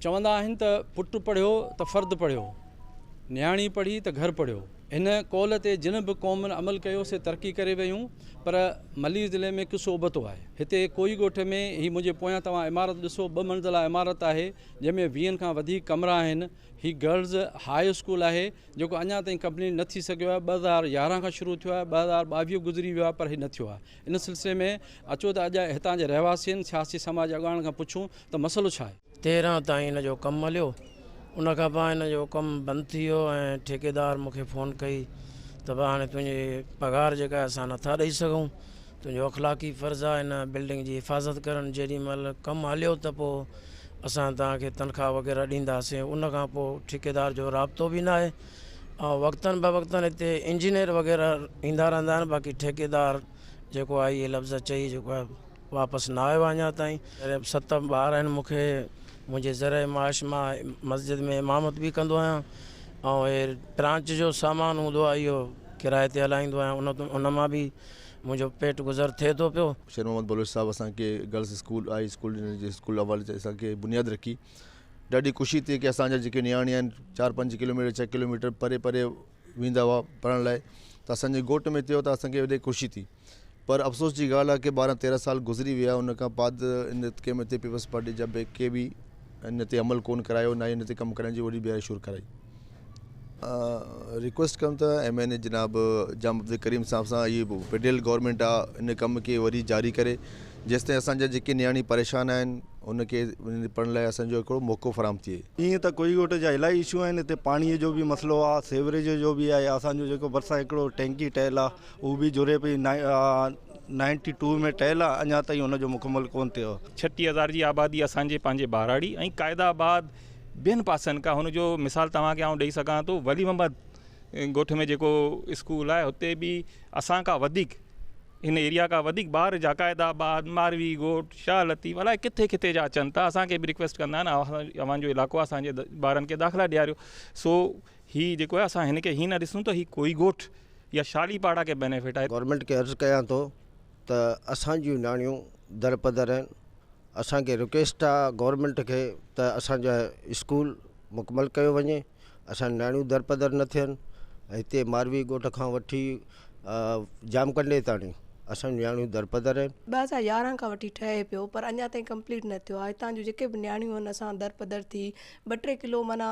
چوندا آهن ته پٽ پڙهيو ته فرد پڙهيو، نياڻي پڙهي ته گهر پڙهيو. هن قول تي جن به قومن عمل ڪيو سي ترقي ڪري ويون پر ملير ضلعي ۾ قصو ابتو آهي. هتي ڪوئي ڳوٺ ۾ هي منهنجي پويان توهان عمارت ڏسو ٻه منزله عمارت آهي جنهن ۾ ويهن کان وڌيڪ ڪمرا آهن. هي گرلز هاء اسڪول آهي جيڪو اڃا تائين ڪمپليٽ نه ٿي سگهيو آهي ٻه هزار يارهن کان شروع ٿيو آهي ٻه هزار ٻاويهه گذري ويو آهي پر هي نه ٿيو آهي. ان سلسلي ۾ اچو ته اڄ هتان جي رهواسين، سياسي سماجي اڳواڻن کان پڇون ته مسئلو ڇا آهي؟ تيرهن تائين هن جو ڪم هليو ان کان پوء هن جو ڪم بند ٿي ويو ۽ ٺيڪيدار مون کي فون ڪئي ته ڀا هاڻي تنهنجي پگهار جيڪا آهي اسان نٿا ڏئي سگهون تنهنجو اخلاقي فرض آهي هن بلڊنگ جي حفاظت ڪرڻ جيڏي مهل ڪم هليو ته پوء اسان توهان کي تنخواه وغيره ڏينداسين ان کان پوء ٺيڪيدار جو رابطو به ناهي ۽ وقتن بوقتن هتي انجنيئر وغيره ايندا رهندا آهن باقي ٺيڪيدار جيڪو آهي اهي لفظ چئي جيڪو آهي واپس نه آيو آهي اڃان تائين ست ٻار آهن مون کي منهنجي ذريعي معاش مان مسجد ۾ امامت به ڪندو آهيان ۽ هي برانچ جو سامان هوندو آهي اهو ڪرايي تي هلائيندو آهيان ان ان مان به منهنجو پيٽ گذر ٿئي ٿو پيو شير محمد بلوچ صاحب اسان کي girls school high school school اول اسان کي بنياد رکي ڏاڍي خوشي ٿي ڪي اسان جا جيڪي نياڻي آهن چار پنج ڪلو ميٽر ڇهه ڪلو ميٽر پري پري ويندا هئا پڙهڻ لاء ته اسانجي ڳوٺ ۾ ٿيو ته اسانکي وڏي خوشي ٿي پر افسوس جي ڳالهه آهي ڪي ٻارهن تيرهن سال گذري ويا ان کان بعد ان اسڪيم تي پيپلز پارٽي جا ڪي به ان تي عمل ڪون ڪرايو نه ان تي ڪم ڪرڻ جي وڏي بيهر شروع ڪرائي ريڪويسٽ ڪريون ته ايم اين اي جناب جام عبدالڪريم صاحب سان اهي فيڊرل گورنمينٽ آ ان ڪم کي وري جاري ڪري جيستائين اسان جا جيڪي نياڻي پريشان آهن ان کي پڙهڻ لاء اسان جو هڪڙو موقعو فراهم ٿئي ائين ته ڪوئي ڳوٺ جا الاهي اشو آهن هتي پاڻي جو به مسئلو آ سيوريج جو به آهي اسان جو جيڪو ڀرسان هڪڙو ٽينڪي ٺهيل آ اهو به جڙي پئي نائنٽي ٽو ۾ ٺهيل آ اڃا تائين ان جو مڪمل ڪون ٿيو آ ڇٽيهه هزار جي آبادي اسان جي پنهنجي ٻهراڙي ۽ قائد آباد ٻين پاسن کان هن جو مثال توهان کي آئون ڏئي سگهان ٿو ولي محمد ڳوٺ ۾ جيڪو اسڪول آهي هتي به اسان کان وڌيڪ هن ايريا کان وڌيڪ ٻار جا قائد آباد ماروي ڳوٺ شاهه لطيف الائي ڪٿي ڪٿي جا اچن ٿا اسان کي به رڪويسٽ ڪندا آهن اوهان جو علائقو اسان جي ٻارن کي داخلا ڏياريو سو هي جيڪو آهي اسان هن کي هي نه ڏسون ته هي ڪوئي ڳوٺ يا شالي پاڙا کي بينيفٽ آهي گورنمينٽ کي عرض ڪيان ٿو ته اسان جون نياڻيون درپدر آهن اسان کي رڪويسٽ آ گورمينٽ کي ته اسان جا اسڪول مڪمل ڪيو وڃي اسان جون نياڻيون درپدر نه ٿين هتي ماروي ڳوٺ کان وٺي جام ڪنڊي تاڻي اسان جون نياڻيون درپدر آهن. ٻه هزار يارهن کان وٺي ٺهي پيو پر اڃا تائين ڪمپليٽ نه ٿيو آهي هتان جون جيڪي به نياڻيون آهن اسان درپدر ٿي ٻه ٽي ڪلو معنيٰ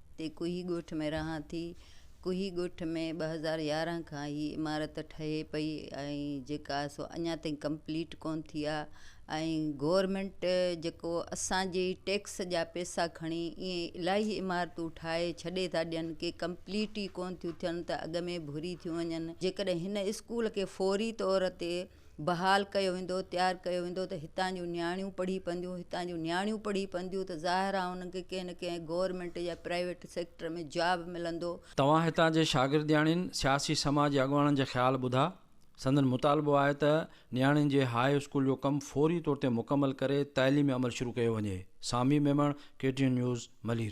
تي ڪوهي ڳوٺ ۾ رهان ٿي. ڪوهي ڳوٺ ۾ ٻه هزار يارهن کان هي عمارت ٺهي پئي ۽ جيڪا سو اڃا تائين ڪمپليٽ ڪون ٿي آ ۽ گورمينٽ جيڪو اسان جي ٽيڪس جا پيسا کڻي ايئن الاهي عمارتون ٺاهي ڇڏي ٿا ڏين ڪي ڪمپليٽ ئي ڪون ٿيون ٿين ته اڳ ۾ ڀري ٿيون وڃن جيڪڏهن هن اسڪول کي فوري طور تي بحال ڪيو ويندو تيار ڪيو ويندو ته هتان جون نياڻيون پڙهي پونديون هتان جون نياڻيون پڙهي پونديون ته ظاهر آهي انهن کي ڪنهن نه ڪنهن گورنمينٽ يا پرائيويٽ سيڪٽر ۾ جاب ملندو. توهان هتان جي شاگردياڻين، سياسي سماء جي اڳواڻن جا خيال ٻڌا. سندن مطالبو آهي ته نياڻين جي هاء اسڪول جو ڪم فوري طور تي مڪمل ڪري تعليمي عمل شروع ڪيو وڃي. Sami Memon, K T N news, Malir.